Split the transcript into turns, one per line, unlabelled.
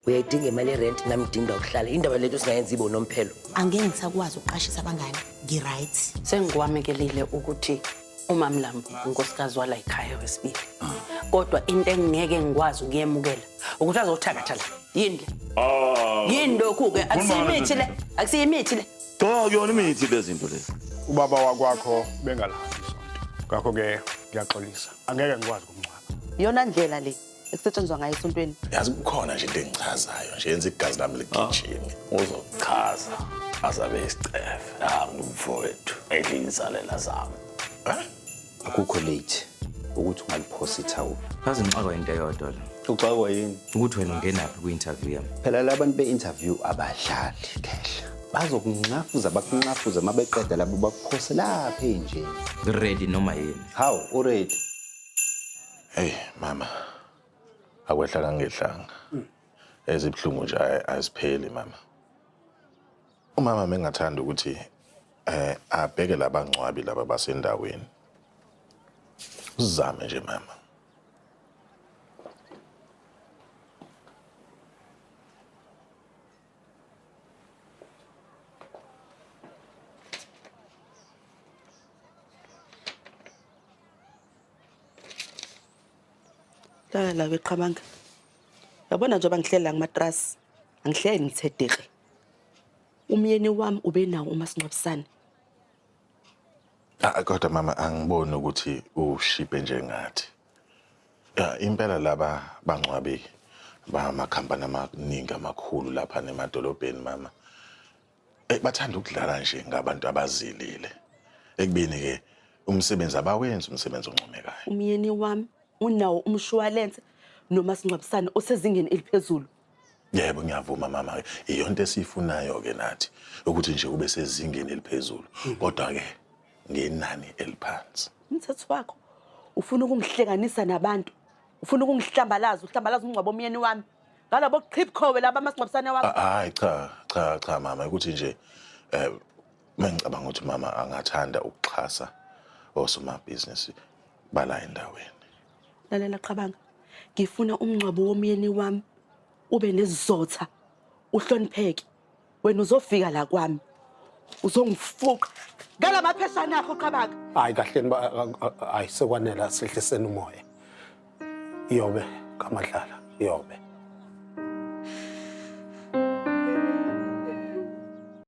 uyayidinga imali yerent nami ngidinga ukuhlala indaba lethu singayenza ibo nomphelo angeke ngisakwazi
ukuqashisa abangane ngi-right sengikwamekelile
ukuthi umamlambo unkosikazi wala yikhaya wesibili kodwa into engingeke ngikwazi ukuyemukela ukuthi azothakatha la yini le ah. yini lokhu-ke akusiyimithi le akusiyimithi le cha kuyona imithi
lezinto lezi ubaba wakwakho
bengalahani isonto ngakho-ke ngiyaxolisa angeke ngikwazi ukumngcwaba yona ndlela le
ekusetshenzwa ngayo esontweni yazi kukhona nje into
engichazayo nje yenza igazi lami ligijime uzochaza azabe isicefe nami mfowethu edla insalela zami
akukho late ukuthi ungaliphosa ithawula kaze ngixakwa into
eyodwa la uxakwa yini
ukuthi wena ungenaphi
kwi-interview yami phela la bantu be-interview
abadlali khehla bazokunxafuza bakunxafuza uma beqeda labo bakuphose lapha enjeni ready noma
yini hawu uready
Hey mama. Akwehla kangehlanga. Ezibhlungu nje ay- azipheli mama. Umama mengathanda ukuthi eh abheke labangcwabi laba basendaweni. Uzame nje mama.
Lala la weqhamanga. Yabona njengoba ngihlela ngamatrasi, angihleli ngithedeke. Umyeni wami ube nawo umasingcwabisane.
Ah kodwa mama angiboni ukuthi ushiphe njengathi. Ya impela laba bangcwabi bamakhampani amaningi amakhulu lapha nemadolobheni mama. Eh, bathanda ukudlala nje ngabantu abazilile ekubeni-ke umsebenzi abawenzi umsebenzi oncomekayo umyeni wami
unawo umshuwalense nomasingcwabisane osezingeni eliphezulu yebo
ngiyavuma mama iyonto esiyifunayo-ke nathi ukuthi nje kube sezingeni eliphezulu kodwa-ke ngenani eliphansi umthetho wakho
ufuna ukungihlekanisa nabantu ufuna ukungihlambalaza uhlambalaza umngcwabo omyeni wami ngalabo qhibkhowe laba amasingcwabisane wakho Ah, Hayi cha cha
cha mama ukuthi nje eh mengicabanga ukuthi mama angathanda ukuxhasa osomabhizinisi bala endaweni. lalela
qabanga ngifuna umngcwabo womyeni wami ube nezizotha uhlonipheke wena uzofika la kwami uzongifuqa ngala mapheshana akho qabaka hayi kahleni ba- a-
a- a- hayi sekwanele asehliseni umoya iyobe kamadlala iyobe